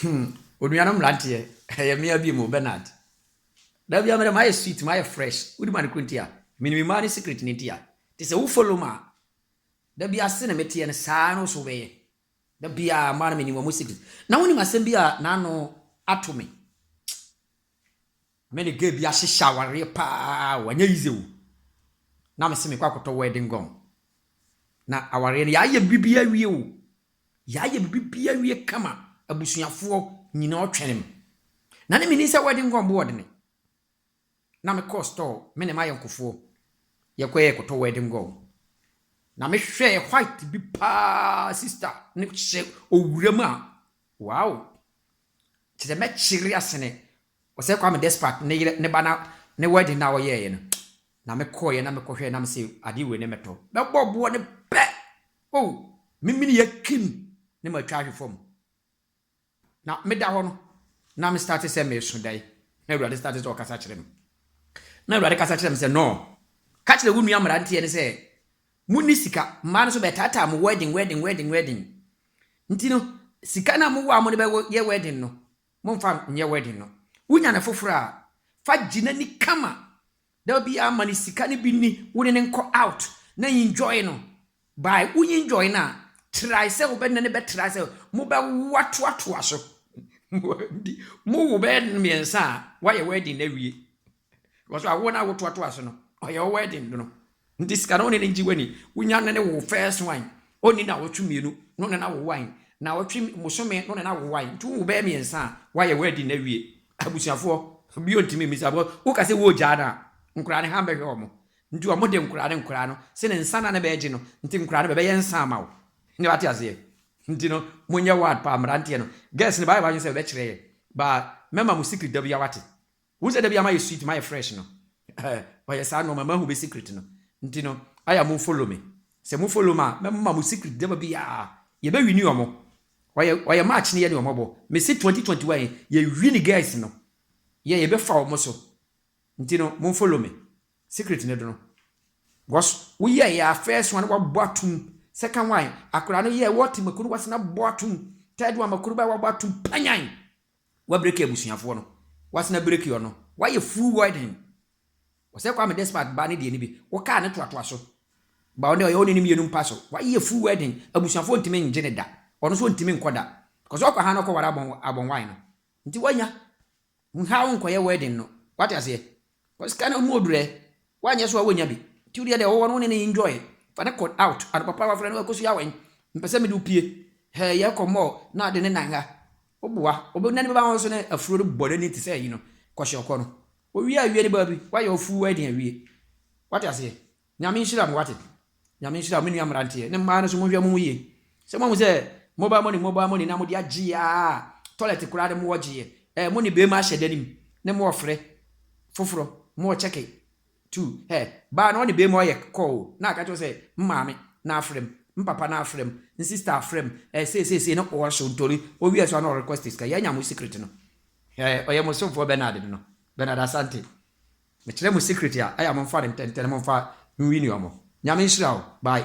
Hmm, onuanom mmeranteɛ, ɛyɛ mmea bio mu, Bernard. Da bia mɛdɛ mayɛ sweet, mayɛ fresh. Wodi ma no kuro nti a, menim mmaa ne secret no nti a. Te sɛ wo follow ma a, da bia se na meteɛ no saa no so wobɛyɛ. Da bia mmaa no menim wɔn secret. Na wonim asɛm bi a n'ano ato me. Me ne girl bi ahyehyɛ awareɛ paa o, anyɛ easy o. Na me se mekɔ akɔtɔ wedding gown. Na awareɛ no yɛayɛ biribi awie o, yɛayɛ biribi awie kama, abusuafoɔ nyinaa ɔtwɛne me. Na ne mennim sɛ wedding gown bo ɔdene. Na me kɔɔ store, me ne m'ayɔnkofoɔ yɛkɔ yɛ kɔtɔ wedding gown. Na me hwɛɛ white bi paa sister no hyɛ owura mu a, wow! Kyerɛ sɛ mɛkyere asene Ɔsɛ Kwame despite ne yere ne ba na ne wedding na ɔyɛɛyɛ no na me kɔɔyɛ na me kɔhwɛɛ na me se adeɛ wei ne mɛtɔ mɛbɔ boɔ ne pɛ oh me mini yɛ kim ne ma twa ahwe fam na me da hɔ no na me starte sɛ me so dai na awurade starte sɛ ɔkasa kyerɛ me na awurade kasa kyerɛ me sɛ no ka kyerɛ wo nua mmeranteɛ ne sɛ mo ni sika mmaa no so bɛ taataa mo wedding wedding wedding wedding nti no sika na mo wɔ a mo ne bɛ yɛ wedding no Momfa nyɛ wedding no. Wunya no foforo a, fa gye n'ani kama. Da biara ma no sika no bi nni wo ne no nkɔ out na enjoy no. By wo enjoy no a, try sɛ wobɛ ne no bɛtra sɛ mobɛwo atoatoa so. Mo wo bɛyɛ mmiɛnsa a, woayɛ wedding no awie. Because awo na awo toa toa so no, ɔyɛ wo wedding no. Nti sika no ne ne ngye wani. Wonya ne ne wo first one, ɔnni na wɔtwe mmienu, no ne na wo one. Na wɔtwe mosome, no ne na wo one. Nti wowo bɛyɛ mmiɛnsa a, woayɛ wedding no awie. Abusuafoɔ, bio ntumi mmisa because woka sɛ woregyaa no a, nkoraa no hann bɛhwɛ wɔn. Nti wɔn de nkoraa ne nkoraa no, se ne nsa na ne bɛgye no, nti nkoraa no bɛbɛyɛ nsa ama wo. Ne wate aseɛ? Nti no, monyɛ wad paa mmeranteɛ no. Girls no, baayɛ wadwene sɛ bɛbɛkyerɛ yɛn, but mɛma mo secret da biara wate. Wohu sɛ da biaa mayɛ sweet mayɛ fresh no ɔyɛ saa no ɔma mahu me secret no nti no aya mo follow me sɛ mo follow me a mɛma mo secret da biaa yɛbɛ wini ɔmo ɔyɛ ɔyɛ match no yɛ ne ɔmo bɔ mese 2021 yi yɛ wini guys no yɛ yɛbɛ fa ɔmo so nti no mo follow me secret no do no because wo yɛ yɛ a first one wabɔ atum second one akora no yɛ wɔ te makuru wase na bɔ atum third one makuru ba wabɔ atum panyan W'abreki abusuafoɔ no, w'asena breki ɔ no, w'ayɛ full widen. Ɔsɛ Kwame despite baa ne deɛ no bi, wo car no toatoa so. Ba ɔnɛ ɔyɛ wo ne no mmienu mpa so, w'ayɛ full widen, abusuafoɔ ntumi ngye no da, ɔno nso ɔntumi nkɔ da, because ɔkɔ ha na ɔkɔ ware abɔn abɔnwae no. Nti w'anya, nhaw nkɔyɛ widen no, w'ate aseɛ? Cause sika no ho odu dɛ, wɔannyɛ so a wonnya bi, ntsi wo deɛ deɛ ɔwɔ no wo ne no enjoy, fa no kɔ out, ade papa a wɔafrɛ no Akosua awɛn, mepɛ sɛ mede wo pue, hɛɛ yɛkɔ mall na ade ne nanga, woboa, ɔbɛ nane bɛba ho so ne afuro no bɔ nani te sɛ ayi no, kɔhyɛ ɔkɔ no, owie a wie ne baabi, woayɛ wo full wedding awie, wate aseɛ. Nyame nhyira mo wate. Nyame nhyira wo me nua mmeranteɛ ne mmaa no nso monhwɛ mo ho yie sɛ moahu sɛ mobile money mobile money na mode agyeɛ aa toilet koraa no moɔ gyeɛ ɛɛ mone beema ahyɛ da no mu ne moɔ frɛ foforɔ moɔ kyɛke too hɛ baa no ɔne beema ɔyɛ call o na aka kyerɛ sɛ mmaame na afrɛ m mpapa na afrɛ m nsister afrɛ m ɛɛ sei sei sei na ɔɔhyɛ ntori ɔwie so a na ɔrequest sika yɛanya mo secret no ɛɛ ɔyɛ mo somfoɔ Bernard no no Bernard Asante Mekyerɛ mo secret a ɛyɛ a momfa no ntɛntɛn momfa nwi nua mo. Nyame nhyira wo. Bye.